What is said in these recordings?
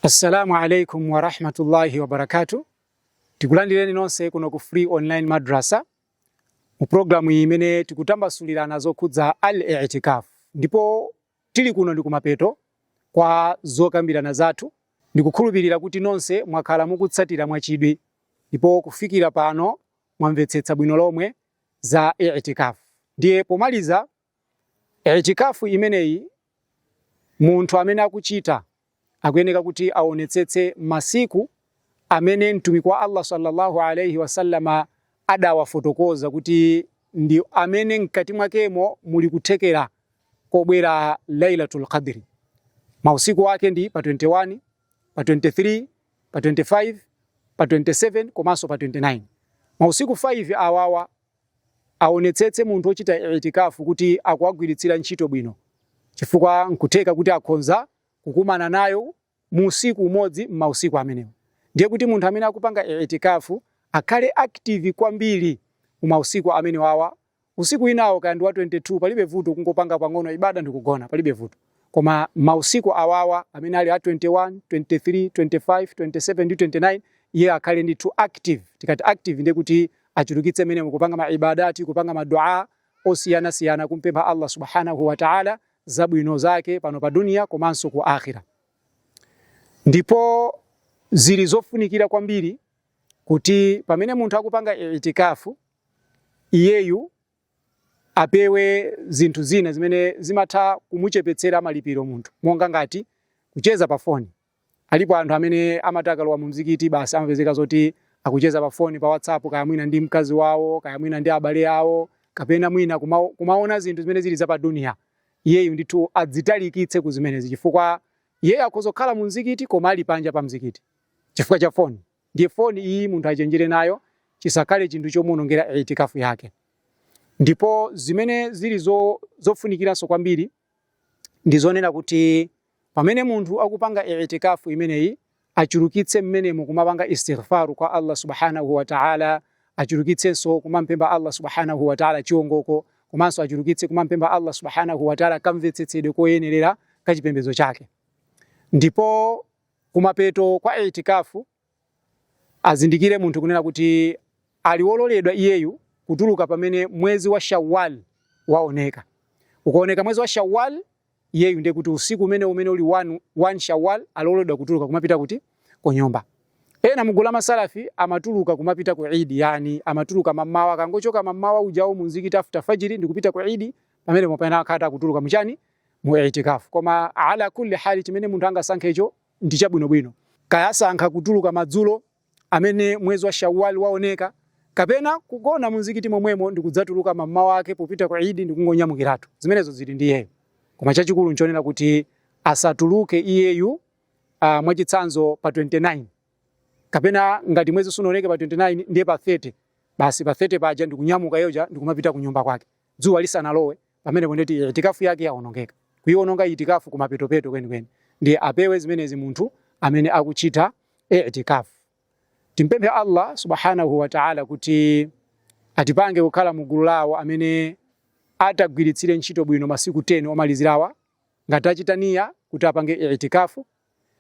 Assalamu alaikum wa rahmatullahi wa barakatuh. Tikulandireni nonse kuno ku Free Online Madrasa mu programu imene tikutambasulirana zokhudza al-i'tikaf. Ndipo tili kuno ndi kumapeto kwa zokambirana zathu. Ndikukhulupirira kuti nonse mwakhala mukutsatira mwachidwi ndipo kufikira pano mwamvetsetsa bwino lomwe za i'tikaf. Ndiye pomaliza Itikaaf imeneyi munthu amene akuchita akuyeneka kuti awonetsetse masiku amene Mtumiki wa Allah salla Allah alaih wasallam adawafotokoza kuti ndi amene mkati mwakemo muli kuthekera kobwera Lailatul Qadr. Mausiku ake ndi pa 21, pa 23, pa 25, pa 27 komanso pa 29. Mausiku 5 awawa aonetsetse munthu ochita I'tikaaf kuti akuwagwiritsira ntchito bwino chifukwa nkutheka kuti akhonza kukumana nayo mu usiku umodzi mmausiku amenewo. Ndiye kuti munthu amene akupanga I'tikaaf akhale active kwambiri mu mausiku amenewawa, usiku winawo kaya ndi wa 22 palibe vuto kungopanga pang'ono ibaada ndikugona palibe vuto. Koma mausiku awawa amene ali a 21, 23, 25, 27 ndi 29 iye akhale ndithu active. Tikati active ndiye kuti achulukitse mmenemo ukupanga ma ibaadaat, kupanga ma Duaa osiyanasiyana kum'pempha Allah Subhaanahu wa Ta'ala zabwino zake pano pa dunya komanso ku Aakhirah. Ndipo zili zofunikira kwambiri kuti pamene munthu akupanga I'tikaaf iyeyu apewe zinthu zina zimene zimatha kumuchepetsera malipiro munthu monga ngati kucheza pa foni. Alipo anthu amene amati akalowa mu mzikiti basi amapezeka zoti akucheza pa foni pa WhatsApp kaya mwina ndi mkazi wawo kaya mwina ndi abale awo kapena mwina kuma, kumaona zinthu zimene zili za pa dunia. Iyeyu ndithu adzitalikitse ku zimenezi chifukwa iyeyo akhoza kukhala mu mzikiti koma ali panja pa mzikiti chifukwa cha foni. Ndiye phone iyi munthu achenjere nayo chisakhale chinthu chomuonongera I'tikaaf yake. Ndipo zimene zili zo, zofunikiranso kwambiri ndi zonena kuti pamene munthu akupanga I'tikaaf imeneyi achulukitse mmenemo kumapanga istighfar kwa Allah subhanahu wa ta'ala, achulukitsenso kumampempha Allah subhanahu wa ta'ala chiongoko, komanso achulukitse kumampempha Allah subhanahu wa ta'ala kamvetsetsedwe koyenerera kachipembedzo chake. Ndipo kumapeto kwa I'tikaaf azindikire munthu kunena kuti ali wololedwa iyeyu kutuluka pamene mwezi wa Shawwal waoneka. Ukaoneka mwezi wa Shawwal iyeyu ndiye kuti usiku umene umene uli 1 1 Shawwal aloledwa kutuluka kumapita kuti ku nyumba. Ena mugulu la masalafi amatuluka kumapita ku Eid, yani amatuluka mamawa, akangochoka mamawa ujawo munzikiti after fajiri ndikupita ku Eid, pamene mwapanga akha kutha kutuluka muchani mu I'tikaf. Koma ala kulli hal chimene munthu angasankhe icho ndi chabwinobwino. Kaya asankha kutuluka madzulo amene mwezi wa Shawwal waoneka kapena kugona munzikiti momwemo ndi kudzatuluka mammawa ake popita ku Eid ndi kungonyamukiratu. Zimenezo zili ndi iyeyo. Koma chachikulu nchonena kuti asatuluke iyeyu uh, mwachitsanzo pa 29 kapena ngati mwezi sunaoneke pa 29 ndiye pa 30 basi pa 30 paja ndikunyamuka yoja ndikumapita kunyumba kwake dzuwa lisanalowe pamenepo ndiye kuti itikafu yake yaonongeka kuiononga itikafu kumapetopeto kwenikweni ndiye apewe zimenezi munthu amene akuchita itikafu timpemphe allah subhanahu wa taala kuti atipange kukhala mu gulu la awo amene atagwiritsire ntchito bwino masiku 10 omalizirawa ngati achita niya kuti apange itikafu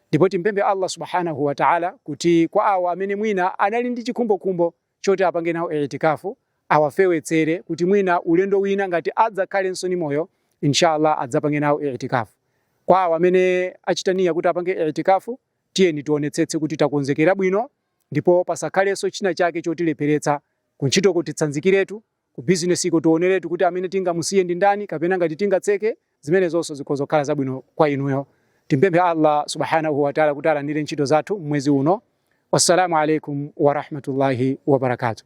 ndipo timpemphe allah subhanahu wa taala kuti kwa awo amene mwina anali ndi chikhumbokhumbo choti apange nawo I'tikaaf awafewetsere kuti mwina ulendo wina ngati adzakhalenso ndi moyo in sha Allah adzapange nawo I'tikaaf. Kwa awo amene achita niyyah kuti apange I'tikaaf, tiyeni tionetsetse kuti takonzekera bwino ndipo pasakhalenso china chake chotilepheretsa ku ntchitoko titsanzikiretu Ku bizinesiko tioneretu kuti amene tingamusiye ndi ndani kapena ngati tingatseke, zimenezonso zikhoza kukhala zabwino kwa inuyo. Timpemphe Allah, Subhanahu wa Ta'ala, kuti alandire ntchito zathu mmwezi uno. Wassalamu alaykum wa rahmatullahi wa barakatuh.